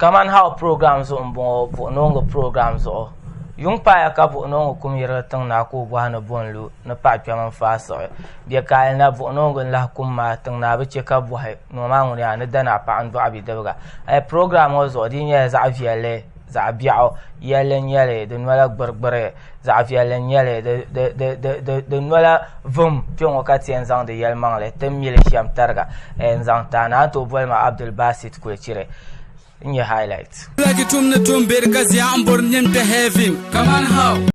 Kaman How program zuɣu m-bɔŋɔ buɣinooŋɔ program zuɣu. Yuŋ paaya ka buɣinooŋɔ kum yirigi tiŋ naa ka o bɔhi ni bo n-lu ni paɣ kpɛm n-faai siɣi. Bɛ kaali na buɣinooŋɔ n-lahi kum maa tiŋ naa bi chɛ ka bɔhi ni o maa ŋuni yaa ni dani a paɣ n-dɔɣi bidibiga. Ayi program ŋɔ zuɣu di yi nyɛla zaɣ viɛlli, zaɣ biɛɣu yɛlli n-nyɛ li, di nola gbirigbiri. zaɣ viɛlli n nyɛli di nola vum kpɛ ŋɔ ka tiɛn zaŋdi yɛli maŋli ti ni mili shɛm tariga n zaŋ taai na a ni tooi boli ma abdul basit kulichiri n nyɛ highlight Lagi tum ni tum beri ka zia n bori nim ti heaven. Come on how?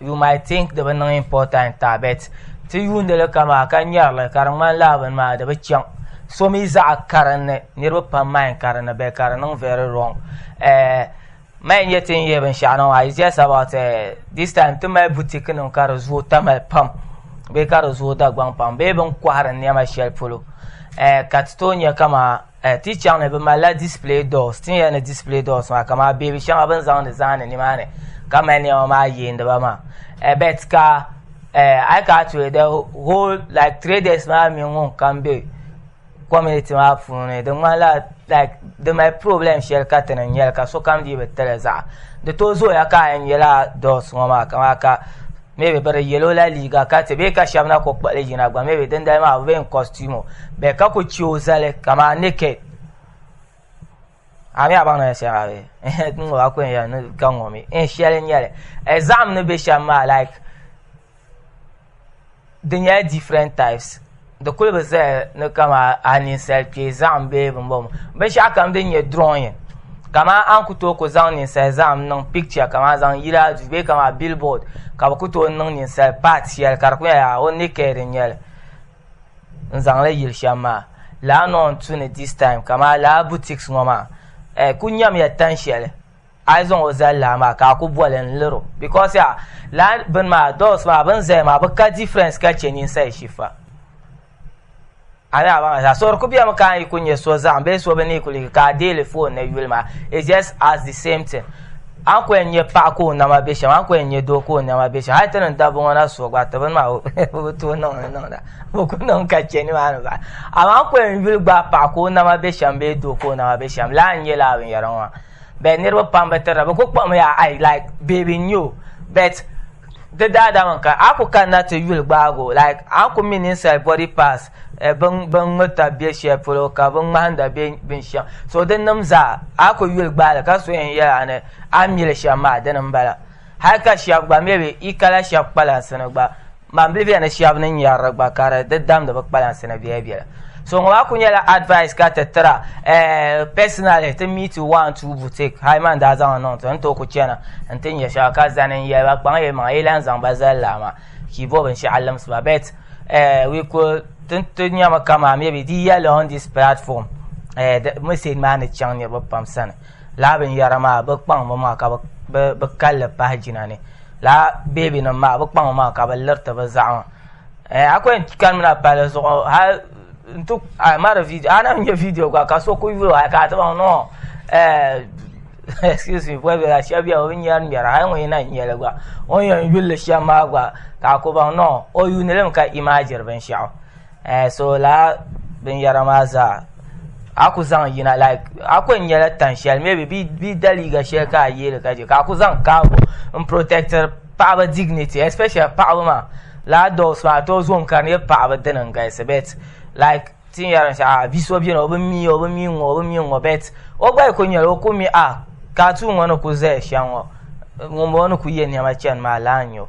You might think di bi niŋ important ta bet ti yuundi li kamaa ka nyɛri li ka di ŋmani laa bini maa di bi chaŋ so mi zaɣa karinli niriba pam mind karinli bɛ ka di niŋ very wrong eh, mali nyɛ ti ni yɛ binshaɣu niŋ maa it's just about eh, this time ti mali boutique nim ka di zooi tamali pam bee ka di zooi dagbaŋ pam bee bin kɔhiri niɛma shɛli polo eh, ka ti tooi nyɛ kamaa Eh, ti chaŋ ni bi malila display doors, tin yɛli ni display doors maa ka maa beebi shɛŋa bin zaŋdi zahindi nimaani ka mali niɛma maa yeendiba maa. Eh, bet ka eh, ai ka tuhi the whole like traders maa mini ŋun kam be community maa puuni di ŋmanila like di mali problem shɛli ka ti ni nyɛli ka sokam dii bi tili zaɣa di to zooya ka a yɛn nyɛla doors ŋɔ maa ka maa ka maybe bɛ di yɛlo la liiga ka ti bee ka shɛba na ku kpuɣili yina gba maybe dindali maa bɛ yɛn costume o bee ka ku che o zali kamaa naked ami a baŋ na shɛm abi n ŋɔ a ku yɛn yɛli ni ka ŋɔ mi n shɛli nyɛli exam ni bɛ shɛm maa like di nyɛla different types di kuli bi zaya ni kama a ninsali kpee zahim bee bimbɔŋɔ binshɛɣu kam din nyɛ drawing kama an ku tooi ku zaŋ ninsali zahim niŋ picture kama zaŋ yili a duu bee kama billboard ka bi ku tooi niŋ ninsali part shɛli ka di ku nyɛla o naked n nyɛli n zaŋli yili shɛm maa laa ni o ni tu ni this time kama laa boutiques ŋɔ maa ku nyamiya tan shɛli a yi zaŋ o zali laa maa ka a ku boli n lir o because ya laa bini maa doors maa bin zaya maa bi ka difference ka chɛ ninsali shifa a ni a baŋ zaa so di ku bemi ka a yi ku nyɛ so zaɣim bee so bi ni kuli ka a deeli phone ni yuli maa it's just as the same thing an ku yɛn nyɛ paɣa ka o nama be shɛm an ku yɛn nyɛ doo ka o nama be shɛm hali ti niŋ dabba ŋɔ na so gba ti bini maa o bi tooi niŋdi niŋda o ku niŋ ka chɛ nimaani ba amaa an ku yɛn yuli gbaai paɣa ka o nama be shɛm bee doo ka o nama be shɛm laa n nyɛ laa binyɛra ŋɔ maa bɛ niriba pam bɛ tirina bɛ ku kpuɣimi ya ai like baby n nyɛ bet di daadama ka a ku kanna ti yuli gbaagi o like a ku mi ninsali body parts eh, bin bin ŋmirita bɛ shɛli polo ka bin ŋmahinda bɛ binshɛŋa so din nim zaa a ku yuli gbaali ka so yɛn yɛla ni a mili shɛm maa dini n bala hali ka shɛba gba maybe i kala shɛba kpalansi ni gba Mambilibiya ni shɛba ni nyari di gba ka di di damdi bi kpalansi ni biɛla biɛla so ŋɔ maa ku nyɛla advice ka ti tira eh, personally ti mi ti one two boutique hali man daa zaŋ niŋ ti ni tooi ku chana n ti nyɛ shɛba ka zani n yɛli ba kpaŋ yi maŋa yi lan zaŋ ba zali laa maa ka yi bo binshɛɣu limsi ba bet eh, we could ti ti nyɛmi kamaa maybe di yɛli on this platform eh, the message maa ni chaŋ niriba pam sani laa binyɛra maa bi kpaŋmi maa ka bi bi bi kalli pahi jina ni laa beebi nim maa bi kpaŋ maa ka bi liriti bi zaɣama eh, a kwen kanimina pali zuɣu hali n ti a mari vidio a na nyɛ vidio gba ka so ku yulo hali ka a ti baŋ no eh, excuse me bɔbi la shɛba bɛ o bi ŋmɛri ŋmɛra hali ŋun yina nyɛli gba o ni yɛn yulli shɛm maa gba ka a ku baŋ no o yuuni limi ka imaajiri binshɛɣu eh so laa binyɛra maa zaa a ku zaŋ yina like a ku nyɛla tan shɛli maybe bi da liiga shɛli ka a yeeli ka je ka a ku zaŋ kaago n protector paɣaba dignity especially paɣaba maa laa dogs maa tooi zoom ka di nyɛ paɣaba dini n galisi bet like ti ni yɛri shɛli a bia so biɛni o bi mi o bi mi ŋɔ o bi mi ŋɔ bet o gba yi ku nyɛli o ku mi a ka tuun ŋɔ ni ku zaya shɛm ŋɔ ŋunbɔŋɔ ni ku yɛ niɛma chani maa laa n nyɛ o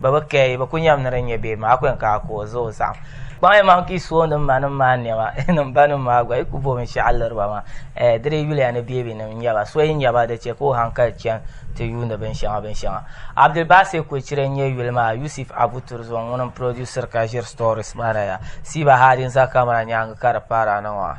Ba bi kɛ yi, bi ku nyɛm ni di nyɛ bee maa kwen ka a ku o zuɣu saɣim. Kpaŋ yi maŋ ka yi su o nim ma nim maa nɛma, nim ba nim maa gba, yi ku bo binshɛɣu liri ba maa. Ɛɛ, di dii yuliya ni beebinim n-nyɛ ba. So yi nya ba, di chɛ ka o hankali chani ti yuuni binshɛŋa binshɛŋa. Abdulbasit Kwecire n-nyɛ yuli maa Yusif Abu Turzon ŋun n-purodusiri ka ʒiri stories maa na ya. Siiba Hadi n-za kamara nyaaŋa ka di paari a na ŋɔ ha.